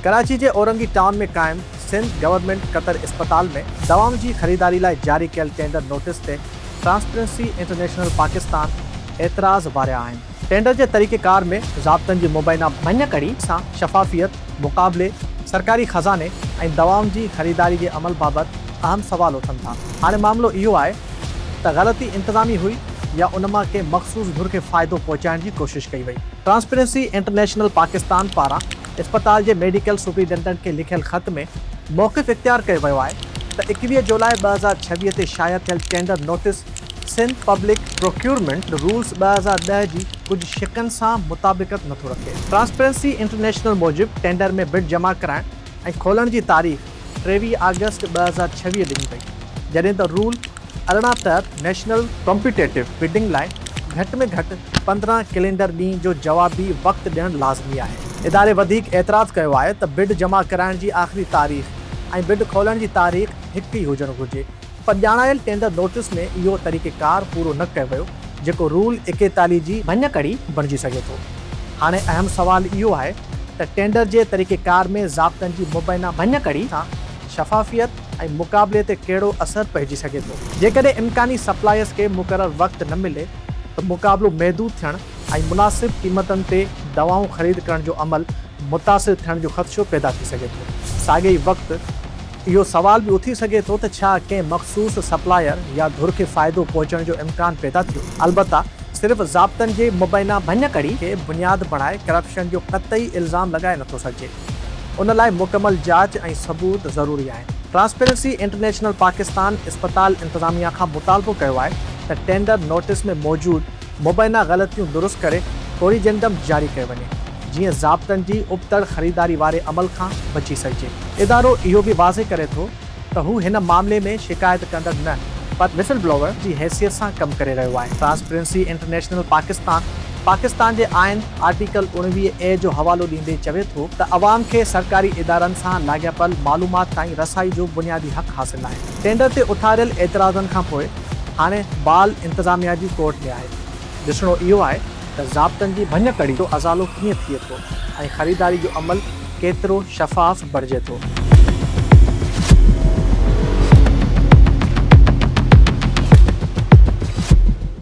ڪراچي جي اورنگي ٽائون ۾ قائم سنڌ گورنمينٽ قطر اسپتال ۾ دوائن جي خريداري لاء جاري ڪيل ٽينڊر نوٽيس تي ٽرانسپيرنسي انٽرنيشنل پاڪستان اعتراض واريا آهن. ٽينڊر جي طريقه ڪار ۾ ضابطن جي مبينا ڀڃڪڙي سان شفافيت، مقابلي، سرڪاري خزاني ۽ دوائن جي خريداري جي عمل بابت اهم سوال اٿن ٿا. هاڻي معاملو اهو آهي ته غلطي انتظامي هئي يا ان مان ڪنهن مخصوص ڌر کي فائدو پهچائڻ جي ڪوشش ڪئي وئي. ٽرانسپيرنسي انٽرنيشنل پاڪستان پاران اسپتال جي ميڊيڪل سپرنٽينڊنٽ کي لکيل خط ۾ موقف اختيار ڪيو ويو آهي ته اڪويهه جولاء ٻه هزار ڇويهه تي شايع ٿيل tender notice Sindh public procurement rules ٻه هزار ڏهه جي ڪجهه شقن سان مطابقت نٿو رکي. ٽرانسپيرنسي انٽرنيشنل موجب ٽينڊر ۾ بڊ جمع ڪرائڻ ۽ کولڻ جي تاريخ، ٽيويهه آگسٽ ٻه هزار ڇويهه ڏني وئي، جڏهن ته رول ارڙهن تحت نيشنل ڪمپيٽيٽو بڊنگ لاء گهٽ ۾ گهٽ پندرهن ڪيلينڊر ڏينهن جو جوابي وقت ڏيڻ لازمي آهي. اداري وڌيڪ اعتراض ڪيو آهي ته بڊ جمع ڪرائڻ جي آخري تاريخ ۽ بڊ کولڻ جي تاريخ هڪ ئي هجڻ گهرجي، پر ڄاڻايل ٽينڊر نوٽيس ۾ اهو طريقيڪار پورو نه ڪيو ويو جيڪو رول ايڪيتاليهه جي ڀڃڪڙي بڻجي سگهي ٿو. هاڻي اهم سوال اهو آهي ته ٽينڊر جي طريقيڪار ۾ ضابطن جي مبينا ڀڃڪڙي سان شفافيت ۽ مقابلي تي ڪهڙو اثر پئجي سگهي ٿو. جيڪڏهن امڪاني سپلائرز کي مقرر وقت نه ملي ته مقابلو محدود ٿيڻ ۽ مناسب قيمتن تي دوائون خريد ڪرڻ جو عمل متاثر ٿيڻ جو خدشو پيدا ٿي سگهي ٿو. ساڳئي وقت. اهو سوال به اٿي سگهي ٿو ته ڇا ڪنهن مخصوص سپلائر يا ڌر کي فائدو پهچڻ جو امڪان پيدا ٿيو؟ البته صرف ضابطن جي مبينا ڀڃڪڙي کي بنياد بڻائي ڪرپشن جو قطعي الزام لڳائي نٿو سگهجي. ان لاء مڪمل جاچ ۽ ثبوت ضروري آهن. ٽرانسپيرنسي انٽرنيشنل پاڪستان اسپتال انتظاميا کان مطالبو ڪيو آهي ته ٽينڊر نوٽس ۾ موجود، مبينا غلطيون درست ڪري ڪوريجنڊم جاري ڪيو وڃي جيئن ضابطن جي ابتڙ خريداري واري عمل کان بچي سگهجي. ادارو اهو به واضح ڪري ٿو ته هو هن معاملي ۾ شڪايت ڪندڙ نه پر وسل بلوور جي حيثيت سان ڪم ڪري رهيو آهي. ٽرانسپيرنسي انٽرنيشنل پاڪستان پاڪستان جي آئين آرٽيڪل اوڻويهه اي جو حوالو ڏيندي چوي ٿو ته عوام کي سرڪاري ادارن سان لاڳاپيل معلومات تائين رسائي جو بنيادي حق حاصل آهي. ٽينڊر تي اٿاريل اعتراضن کانپوء هاڻي بال انتظاميا جي ڪورٽ ۾ آهي ڏسڻو اهو آهي ته ضابطن جي ڀڃ ڪڙي جو ازالو ڪيئن ٿئي ٿو ۽ خريداري جو عمل ڪيترو شفاف بڻجي ٿو.